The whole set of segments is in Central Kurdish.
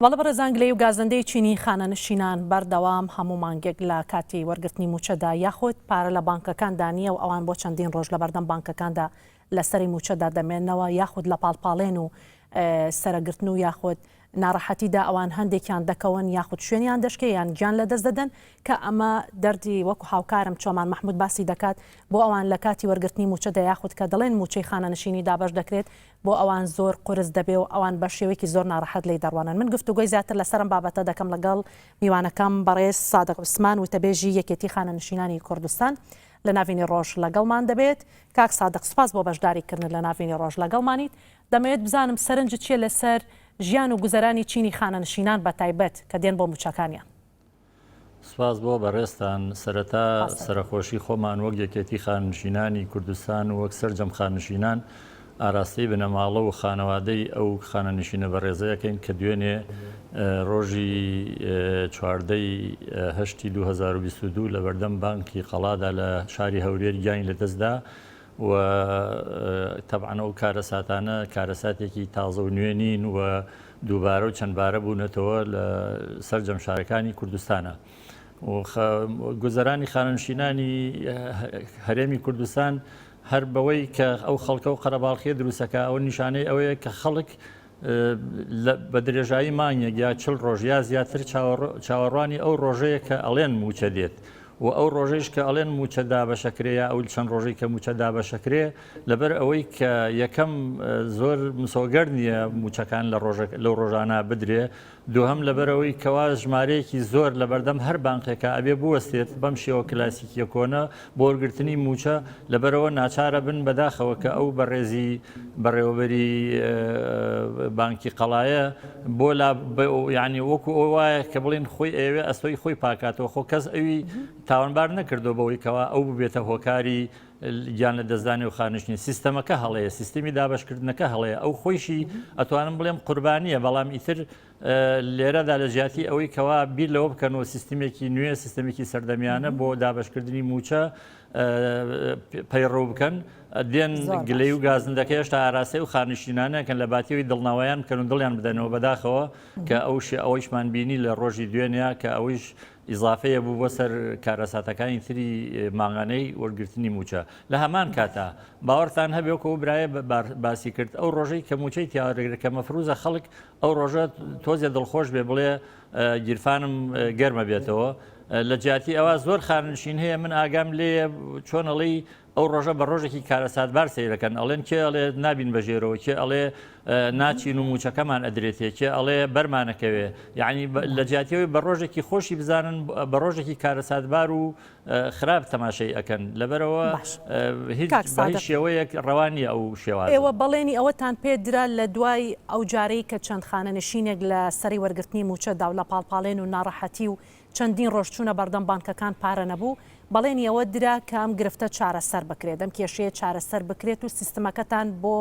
وەڵا بەڕێزان گلەی و گازەندەی چینی خانەنشینان بەردەوام هەموو مانگێک لە کاتی وەرگرتنی مووچەدا یاخود پارە لە بانکەکاندا نییە و ئەوان بۆ چەندین ڕۆژ لەبەردەم بانکەکاندا لە سەری مووچەدا دەمێنەوە یاخود لە پاڵپاڵێن و سەرەگرتن و یاخود ناڕەحەتیدا ئەوان هەندێکیان دەکەون یاخود شوێنیان دەشکێ یان گیان لە دەست دەدەن کە ئەمە دەردی وەکو هاوکارم چۆمان مححمود باسی دەکات بۆ ئەوان لە کاتی وەرگرتنی مووچەدا یاخود کە دەڵێن مووچەی خانەنشینی دابش دەکرێت بۆ ئەوان زۆر قورس دەبێ و ئەوان بە شێوەیەکی زۆر ناڕەحەت لێی دەڕوانن. من گفتوگۆی زیاتر لەسەر ئەم بابەتە دەکەم لەگەڵ میوانەکەم بەڕێز سادق عوسمان وتەبێژی یەکێتی خانەنشینانی کوردستان لە ناڤینی ڕۆژ لەگەڵمان دەبێت. کاک سادق سپاس بۆ بەشداری کردنت لە ناڤینی ڕۆژ لەگەڵمانیت. دەمەوێت بزانم سەرنجت چیە لەسەر ژیان و گوزەرانی چینی خانەنشینان بە تایبەت کە دێن بۆ موچەکانیان. سپاس بۆ بەڕێزتان، سەرەتا سەرەخۆشی خۆمان وەک یەکێتی خاننشینانی کوردستان و وەک سەرجەم خاننشینان ئاراستەی بنەماڵە و خانەوادەی ئەو خانەنشینە بەڕێزە ئەکەین کە دوێنێ ڕۆژی چواردە ی هەشتی دوو هەزار و بیست و دوو لەبەردەم بانکی قەڵادا لە شاری هەولێر گیانی لەدەستدا و تەبعەن ئەو کارەساتانە کارەساتێکی تازە و نوێ نین و دووبارە و چەندبارە بوونەتەوە لە سەرجەم شارەکانی کوردستانە. گوزەرانی خانەنشینانی هەرێمی کوردستان هەر بەوەی کە ئەو خەڵکە و قەرەباڵخیە دروستەکە ئەو نیشانەی ئەوەیە کە خەڵک بە درێژایی مانگێک یا چل ڕۆژ یا زیاتر چاوەڕوانی ئەو ڕۆژەیە کە ئەڵێن موچە دێت و ئەو ڕۆژەیش کە ئەڵێن موچە دابەشەکرێ یا ئەو چەند ڕۆژەی کە موچە دابەشەکرێ لەبەر ئەوەی کە یەکەم زۆر مسۆگەر نییە موچەکان لە لەو ڕۆژانە بدرێ دووهەم لەبەرئەوەی کەوا ژمارەیەکی زۆر لەبەردەم هەر بانقێکا ئەبێ بوەستێت بەم شێوە کلاسیکیە کۆنە بۆوەرگرتنی مووچە لەبەرئەوە ناچارەبن بەداخەوە کە ئەو بەڕێزی بەڕێوەبەری بانکی قەڵایە بۆ لا یعنی وەکو ئەو وایە کە بڵین خۆی ئەوێ ئەستۆی خۆی پاکاتەوە خۆ کەس ئەوی تاوانبار نەکردو بەوەی کەوا ئەو ببێتە هۆکاری گیان لە دەستدانی و خانشنی سیستەمەکە هەڵەیە سیستمی دابشکردنەکە هەڵەیە ئەو خۆیشی ئەتوانم بڵێم قوربانیە بەڵام ئیتر لێرەدا لە جیاتی ئەوەی کەوا بیر لەوە بکەن و سیستمێکی نوێ سیستمێکی سەردەمیانە بۆ دابشکردنی موچە پەیڕەو بکەن دێن گلەی و گازندەکە هێشتا ئاراسی و خانشینانەکەن لە باتیەوەی دڵناوایان بکەن و دڵیان بدەنەوە بەداخەوە کە ئەوش ئەوەیشمان بینی لە ڕۆژی دوێنە کە ئەویش ئیزافەیە بوو بۆ سەر کارەساتەکانی تری مانگانەی وەرگرتنی مووچە لە هەمان کاتا باوەڕتان هەبێ وەکە و برایە باسی کرد ئەو ڕۆژەی کە موچەی تیاوەدەگرێت کە مەفروزە خەڵک ئەو ڕۆژە تۆزێ دڵخۆش بێ بڵێ گیرفانم گەرمە بێتەوە لە جیاتی ئەوە زۆر خانشین هەیە من ئاگام لێ چۆنەڵی ئەو ڕۆژە بە ڕۆژێکی کارەساتبار سەیرەکەن ئەڵێن کێ ئەڵێ نابین بە ژێرەوە کێ ئەڵێ ناچین و موچەکەمان ئەدرێتێ کێ ئەڵێ بەرمانەکەوێ یعنی لە جیاتیەوەی بە ڕۆژێکی خۆشی بزانن بە ڕۆژێکی کارەساتبار و خراپ تەماشەی ئەەکەن لەبەرەوە هیچ شێوەیەک ڕەوانی ئەو شێوە ئێوە بەڵێنی ئەوەتان پێ درا لە دوای ئەو جارەی کە چەند خانە نشینێک لە سەری وەرگرتنی موچەدا و لە پاڵپاڵێن و ناڕەحەتی و چەندین ڕۆژ چوونە بەردەم بانکەکان پارە نەبوو، بەڵێنی ئەوە درا کە ئەم گرفتە چارەسەر بکرێت، ئەم کێشەیە چارەسەر بکرێت و سیستمەکەتان بۆ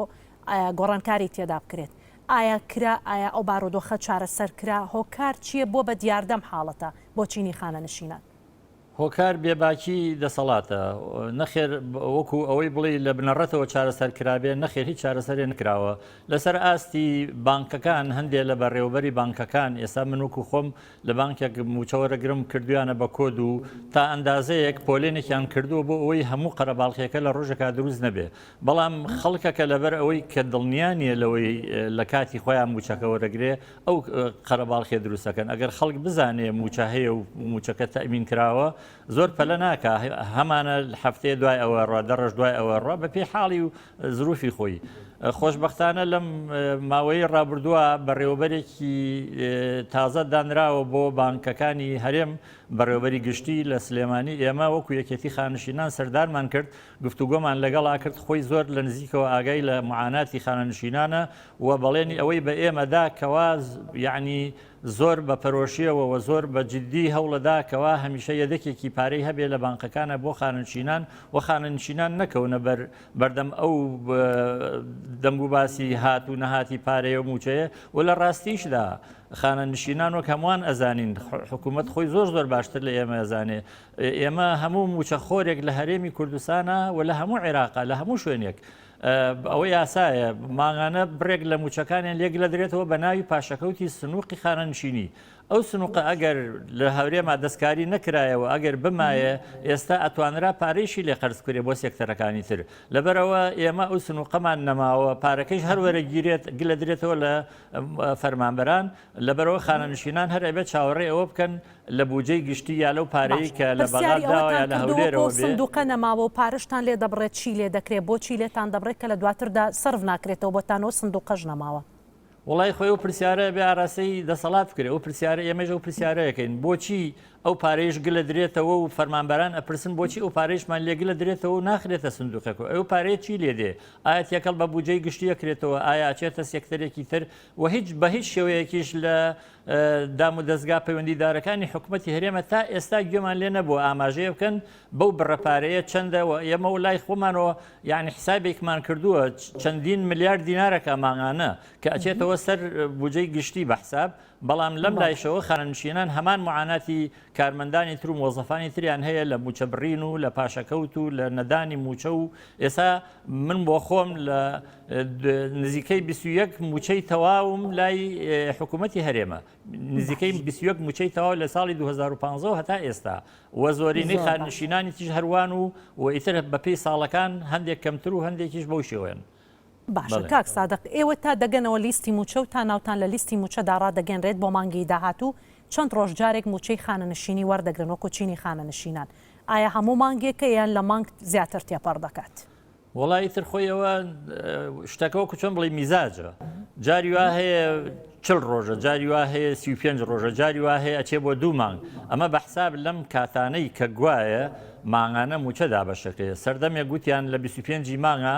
گۆڕانکاری تێدا بکرێت، ئایا کرا؟ ئایا ئەو بارودۆخە چارەسەر کرا؟ هۆکار چییە بۆ بە دیاردە ئەم حاڵەتە بۆ چینی خانەنشینان؟ هۆکار بێباکی دەسەڵاتە؟ نەخێر، وەکو ئەوەی بڵێی لە بنەڕەتەوە چارەسەر کرابێت، نەخێر هیچ چارەسەرێ نکراوە، لەسەر ئاستی بانکەکان هەندێ لە بەڕێوەبەری بانکەکان ئێستا من وەکو خۆم لە بانکێک مووچە وەرەگرم کردویانە بە کۆد و تا ئەندازەیەک پۆلێنێکیان کردووە بۆ ئەوەی هەموو قەرەباڵخێکە لە ڕۆژێکا دروست نەبێ بەڵام خەڵکەکە لەبەر ئەوەی کە دڵنیا نیە لەوەی لە کاتی خۆیان مووچەکە وەرەگرێ ئەو قەرەباڵخێ دروستەکەن ئەگەر خەڵک بزانێ مووچە هەیە و مووچەکە تەمین کراوە زۆر پەلە ناکا هەمانە هەفتەیە دوای ئەوە ڕە دەڕژ دوای ئەوە ڕە بە پێی حاڵی و زروفی خۆی. خۆشبەختانە لەم ماوەیەی ڕابردووە بەڕێوەبەرێکی تازە دانراوە بۆ بانکەکانی هەرێم، بەڕێوەبەری گشتی لە سلێمانی، ئێمە وەکو یەکێتی خانەنشینان سەردانمان کرد، گفتوگۆمان لەگەڵا کرد، خۆی زۆر لە نزیکەوە ئاگای لە معاناتی خانەنشینانە و بەڵێنی ئەوەی بە ئێمە دا کەوا یەعنی زۆر بە پەرۆشیەوە وە زۆر بە جدی هەوڵەدا کەوا هەمیشە یەدەکێکی پارەی هەبێ لە بانقەکانا بۆ خانەنشینان وە خانەنشینان نەکەونە بەر بەردەم ئەو دەنگو باسی هات و نەهاتی پارەیە و موچەیە و لە ڕاستیشدا خانەنشینان وەک هەمووان ئەزانین حکوومەت خۆی زۆر زۆر باشتر لە ئێمە ئەزانێ ئێمە هەموو موچەخۆرێک لە هەرێمی کوردستانە و لە هەموو عێراقا لە هەموو شوێنێک ئەوە یاسایە ماغانە بڕێک لە موچەکانیان لێگلەدرێتەوە بە ناوی پاشەکەوتی سنووقی خانەنشینی ئەو سنووقە ئەگەر لە هەورێما دەستکاری نەکرایەوە ئەگەر بمایە ئێستا ئەتوانرا پارەیشی لێ قەرز کرێ بۆ سێکتەرەکانی تر لەبەرەوە ئێمە ئەو سنووقەمان نەماوە پارەکەش هەروەرە گیرێت گلە درێتەوە لە فەرمانبەران لەبەرەوە خانەنشینان هەر ئەبێت چاوەڕێ ئەوە بکەن لە بوجەی گشتی یا لەو پارەی باشە کە لە پرسیاری بەغا داوە یا ئەوەتان لە کردووە کە هەولێرەوە ئەو بێ؟ سندوقە نەماوە و پارەشتان لێ دەبڕێت چی لێ دەکرێت بۆچی لێتان دەبڕێت کە لە دواتردا سەرف ناکرێتەوە بۆتان و ئەو سندوقەش نەماوە؟ وەڵای خۆی ئەو پرسیارە ئەبێ ئاراستەی دەسەڵات بکرێ ئەو پرسیارە ئێمەش ئەو پرسیارە ئەکەین بۆچی ئەو پارەیەش گلە درێتەوە و فەرمانبەران ئەپرسن بۆچی ئەو پارەیشمان لێ گلە درێتەوە و ناخرێتە سندوقێک و ئەو پارەیە چی لێ دێ ئایا تێکەڵ بە بوجەی گشتی ئەکرێتەوە ئایا ئەچێتە سێکتەرێکی تر و هیچ بە هیچ شێوەیەکیش لە دامودەزگا پەیوەندیدارەکانی حکومەتی هەرێمە تا ئێستا گوێمان لێ نەبووە ئاماژەیە بکەن بەو بڕە پارەیە چەندە و ئێمە و لای خۆمانەوە یعنی حسابێکمان کردووە چەندین ملیار دینارەکە ماغانە کە ئەچێتەوە سەر بجەی گشتی بە حساب بەڵام لەم لایشەوە خانەنشینان هەمان معاناتی کارمەندانی تر و مۆزەفانی تریان هەیە لە موچە بڕین و لە پاشەکەوت و لە نەدانی موچە و ئێسا من بۆ خۆم لە نزیکەی 21 موچەی تەواوم لای حکوومەتتی هەرێمە نزیکەی 21 موچەی تەواو لە ساڵی 2015 هەتا ئێستا و زۆرینەی خانشینانی تیژ هەروان و و ئیتر بەپی ساڵەکان هەندێک کەمتر و هەندێکیش بەو شێوەن. باشە کاک سادق ئێوە تا دەگەنەوە لیستی مووچە و تا ناوتان لە لیستی مووچەدا ڕادەگەنرێت بۆ مانگی داهاتوو چەند ڕۆژ جارێک مووچەی خانەنشینی وەردەگرن وەکو چینی خانەنشینان ئایا هەموو مانگێکە یان لە مانگ زیاتر تێپەڕ دەکات؟ وەڵا ئیتر خۆی ئەوە شتەکە وەکو چۆن بڵی میزاجە جاری وا هەیە چل ڕۆژە جاری وا هەیە سی و پێنج ڕۆژە جاری وا هەیە ئەچێ بۆ دوو مانگ ئەمە بە حساب لەم کاتانەی کە گوایە ماغانە موچە دابەشەکەیە سەردەمێک گوتیان لە 25 مانگە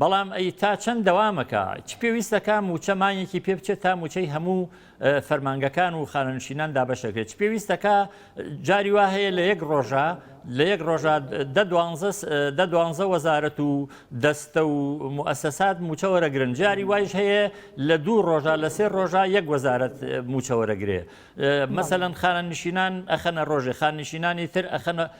بەڵام ئەی تا چەند دەوامەکا؟ چ پێویستەکا مووچە مانگێکی پێ بچێت تا مووچەی هەموو فەرمانگەکان و خانەنشینان دابەشەکرێت؟ چ پێویستەکا جاری وا هەیە لە یەک ڕۆژا لە یەک ڕۆژا دە دوانزە دە دوانزە وەزارەت و دەستە و موئەسەسات مووچە وەرەگرن جاری وایش هەیە لە دوو ڕۆژا لە سێ ڕۆژا یەک وەزارەت مووچە وەرەگرێ مەسەلەن خانەنشینان ئەخەنە ڕۆژێ خاننشینانی تر ئەخەنە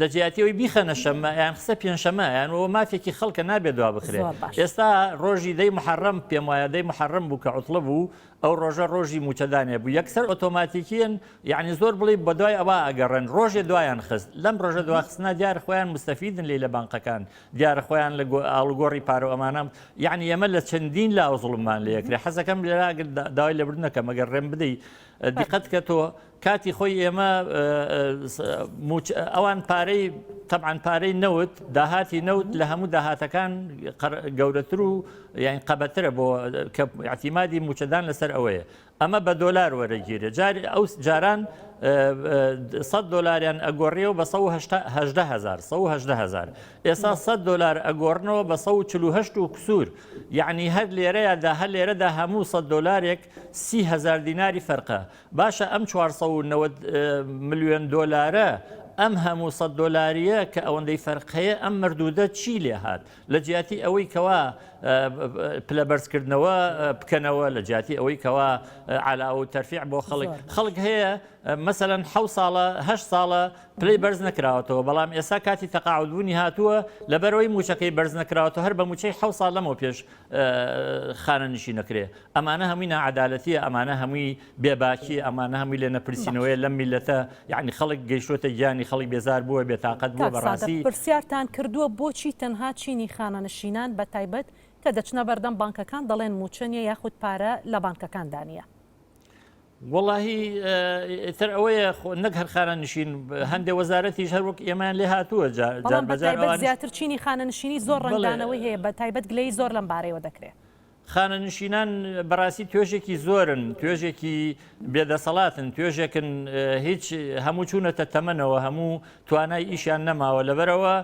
لە جیاتی ئەوی بیخەنە شەمە یان خسە پێنجشەمە یان ئەوە مافێکی خەڵکە نابێت دوا بخرێت ئێستا ڕۆژی دەی محرم پێم وایە دەی محرم بوو کە عوتڵە بوو ئەو ڕۆژە ڕۆژی موچەدانێ بوو یەکسەر ئۆتۆماتیکیان یعنی زۆر بڵی بە دوای ئەوە ئەگەڕێن ڕۆژێ دوایان خست لەم ڕۆژە دواخستنا دیار خۆیان مستەفیدن لی لە بانقەکان دیار خۆیان لە ئاڵگۆڕی پارە ئەمانم یعنی ئەمە لە چەندین لا زڵمان لە یەکرێ حەزەکەم لێراگر داوای لەبردنەکە مەگەر ڕێم بدەیت دیقەت کە تۆ کاتی خۆی ئێمە ئەوان پارەی تەعاان پارەی نەوت داهاتی نەوت لە هەموو داهاتەکان گەورەتر و یاین قەبەترە بۆ عتیمادی موچەدان لەسەر ئەوەیە ئەمە بە دۆلار وەرەگیرێ جار ئەو جاران 100 دلاریان ئەگۆڕیەوە بە 1970هزار ئێستا 100 دلار ئەگۆڕنەوە بە 1940 و کسور یعنی هەر لێرەیە دا هەر لێرەدا هەموو 100 دلارێک 300هزار دیناری فەرقە باشە ئەم چوار سەد و نەوەد ملیۆن دۆلارە ئەم هەموو سەد دۆلاریە کە ئەوەندەی فەرق هەیە ئەم مردودە چی لێ هات لە جیاتی ئەوەی کەوا پلە بەرزکردنەوە بکەنەوە لە جیاتی ئەوەی کەوا علا و تەرفیع بۆ خەڵک خەڵک هەیە مەسەەن ح ساڵە هە ساڵە پلی بەرز نکراوەتەوە بەڵام ئێستا کاتی تەقاعدبوونی هاتووە لە بەرەوەی موچەکەی بەرز نکراوەتە هەر بە موچەی ح ساڵ لەمەوە پێش خانە نشی نەکرێ ئەمانە هەمووی ناعەدالەتیە ئەمانە هەمووی بێ باکیە ئەمانە هەمووی لێ نەپرسینەوەیە لەم میلەتە یەعنی خەڵک گەیشتۆتە گیانی خەڵک بێزار بووە بێ تاقەت بووە بەڕاستی. پرسیارتان کردووە بۆچی تەنها چینی خانەنشینان بە تایبەت کە دەچنە بەردەم بانکەکان دەڵێن موچە نیە یاخود پارە لە بانکەکان دا نیە؟ وەڵاهی ئیتر ئەوەیە خۆ نەک هەر خانەنشین هەندێ وەزارەتیش هەر وەک ئێمان لێ هاتووە جا بەڵام بە جار بەتایبەت ئەوانیش زیاتر چینی خانەنشینی زۆر بەڵێ. ڕەنگدانەوەی هەیە بە تایبەت گلەیی زۆر لەم بارەیەوە دەکرێ. خانەنشینان بەڕاستی توێژێکی زۆرن توێژێکی بێدەسەڵاتن توێژێکن هیچ هەموو چوونەتە تەمەنەوە هەموو توانای ئیشیان نەماوە لەبەرەوە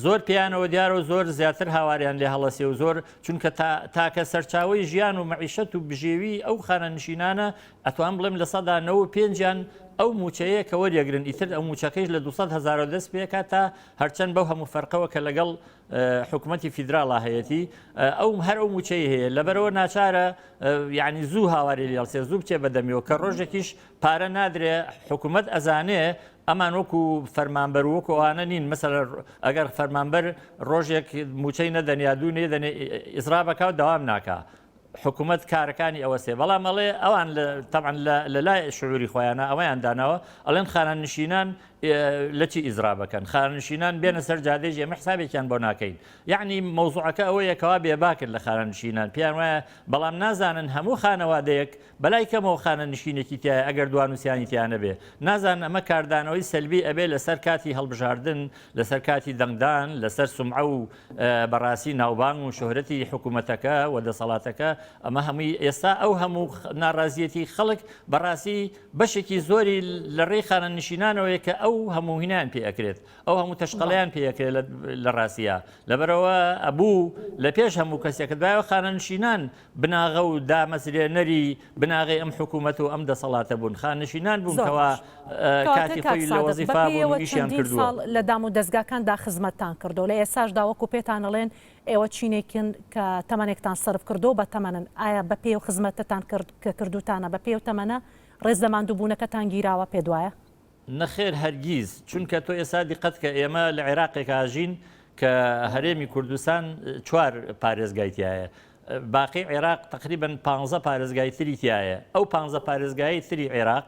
زۆر پێیانەوە دیارە و زۆر زیاتر هاواریان لێ هەڵەسێ و زۆر چونکە تاکە سەرچاوی ژیان و مەعیشەت و بژێوی ئەو خانەنشینانە ئەتوان بڵێم لە سەدا نەوە پێنجیان ئەو موچەیە کە وەریەگرن ئیتر ئەو موچەکەیش لە 200 هزارەوە دەست پێکات تا هەرچەند بەو هەموو فەرقەوە کە لەگەڵ حکومەتی فیدراڵا هەیەتی ئەو هەر ئەو موچەی هەیە لەبەرەوە ناچارە یعنی زوو هاواری لێڵسێ زوو بچێ بەدەمیەوە کە ڕۆژێکیش پارە نادرێ حکوومەت ئەزانێ ئەمان وەکو فەرمانبەر وەکوانە نین مەسەر ئەگەر فەرمانبەر ڕۆژێک موچەی نەدەنیا دوو نێدەنێ ئیسرابەکە و داوام ناکە حکومەت کارەکانی ئەوەسێ بەڵام ئەڵێ ئەوان تەعاان لە لای شعوری خۆیانە ئەوەیان داناوە ئەڵێن خانان نشینان لەچی ئیزرا بەکەن خانان نشینان بێنە سەر جادێژ ئێمە حسابێکیان بۆ ناکەین یعنی مەوزوعەکە ئەوەیە کەوا بێباکرد لە خانان نشینان پێیان وایە بەڵام نازانن هەموو خانەوادەیەک بەلای کەمەوە خانە نشینێکی تایە ئەگەر دوان وسیانی تیانە بێ نازان ئەمە کاردانەوەی سەلبی ئەبێ لەسەر کاتی هەڵبژاردن لەسەر کاتی دەنگدان لەسەر سمعە و بەڕاستی ناوبانگ و شۆهرەتی حکوومەتەکە و دەسەڵاتەکە ئەمە هەمووی ئێستا ئەو هەموو ناڕازیەتی خەڵک بەڕاستی بەشێکی زۆری لە ڕێی خانە نشینانەوەی کە ئەو هەمووهینان پێ ئەکرێت ئەو هەموو تەشقەڵیان پێەکرێت لە ڕاستە لەبەرەوە ئەبوو لە پێش هەموو کەسێکت بایە خانە نشینان بناغە و دامەزرێنەری بناغەی ئەم حکوومەت و ئەم دەسەڵاتە بوون، خانەشینان بوون کەوا کاتی خۆی لە وەزیفا بوون و ئیشیان کردووە. لە دام و دەزگاکاندا خزمەتتان کردووە، لە ئێستاشدا وەکوو پێتان ئەڵێن ئێوە چینێکن کە تەمەنێکتان سەرف کردووە و بەتەمەنن، ئایا بە پێی ئەو خزمەتەتان کە کردووتانە، بە پێی ئەو تەمەنە ڕێز لە ماندووبوونەکەتان گیراوە، پێت وایە؟ نەخێر هەرگیز، چونکە تۆ ئێستا دیقەت کە ئێمە لە عێراقێکا ژین کە هەرێمی کوردستان چوار پارێزگای تایە باقی عێراق تقریبن پ پارێزگای تری تایە ئەو پ پارێزگای تری عێراق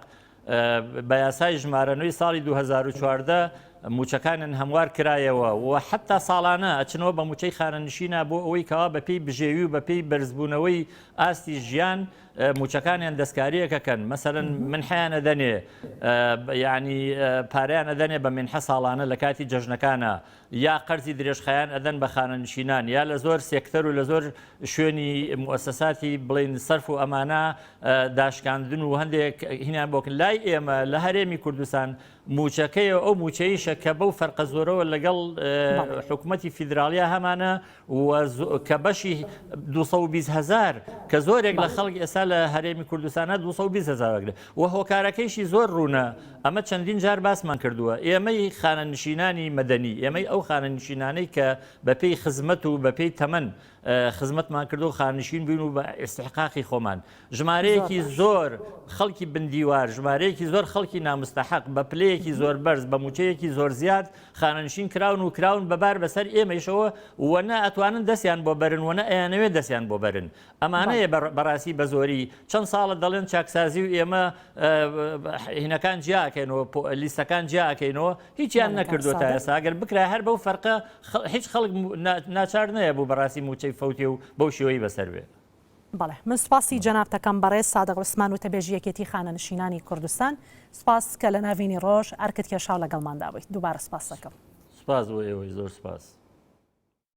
بە یاسای ژمارەنووی ساڵی 2014 موچەکانن هەموار کرایەوە و حتا ساڵانە ئەچنەوە بە موچەی خانەنشینا بۆ ئەوەی کەوا بەپی بژێوی و بەپی بەرزبوونەوەی ئاستی ژیان موچەکانیان دەستکاریەک ئەکەن مەسەلەن منحیان ئەدەنێ یعنی پارەیان ئەدەنێ بە منحە ساڵانە لە کاتی جەژنەکانە یا قەرزی درێژخایەن ئەدەن بە خانەنشینان یا لە زۆر سێکتەر و لە زۆر شوێنی موسەساتی بڵین سەرف و ئەمانە داشکاندن و هەندێک هینان بۆکن لای ئێمە لە هەرێمی کوردستان موچەکەی ئەو موچەیشە کە بەو فەرقە زۆرەوە لەگەڵ حکوومەتتی فیدراالیە هەمانە و کە بەشی دوو سەد و بیست هەزار کە زۆرێک لە خەڵک ئێستا لە هەرێمی کوردستانە دوو سەد و بیست هەزار وەگرێ و هۆکارەکەیشی زۆر ڕوونە ئەمە چەندین جار باسمان کردووە ئێمەی خانەنشینانی مەدەنی ئێمەی ئەو خانەنشینانەی کە بەپێی خزمەت و بەپێی تەمەن خزمەتمان کردو خانشین بووین و بە ئیستحقاقی خۆمان ژمارەیەکی زۆر خەڵکی بندیوار، ژمارەیەکی زۆر خەڵکی نامستەحەق، بە پلەیەکی زۆر بەرز، بە مووچەیەکی زۆر زیاد، خانەنشین کراون و کراون بە بار بەسەر ئێمەیشەوە و نە ئەتوانن دەستیان بۆ بەرن و نە ئەیانەوێت دەستیان بۆ بەرن. ئەمانەیە بەڕاستی بە زۆری چەند ساڵە دەڵێن چاکسازی و ئێمە هینەکان جیا ئەکەین و لیستەکان جیا ئەکەینەوە، هیچیان نەکردووە تا ئێستا، ئەگەر بکرایە هەر بەو فەرقە هیچ خەڵک ناچار نەیەبوو بەڕاستی مووچەی فەوتێ و بەو شێوەی بەسەر بێ. بەڵێ من سوپاسی جەنابتەکەم بەڕێز سادق عوسمان وتەبێژی یەکێتی خانەنشینانی کوردستان سوپاس کە لەناڤینی ڕۆژ ئەرکت کێشاو لەگەڵماندا بویت دوبارە سوپاستەکەم. سوپاس بۆ ئێوەی زۆر سوپاس.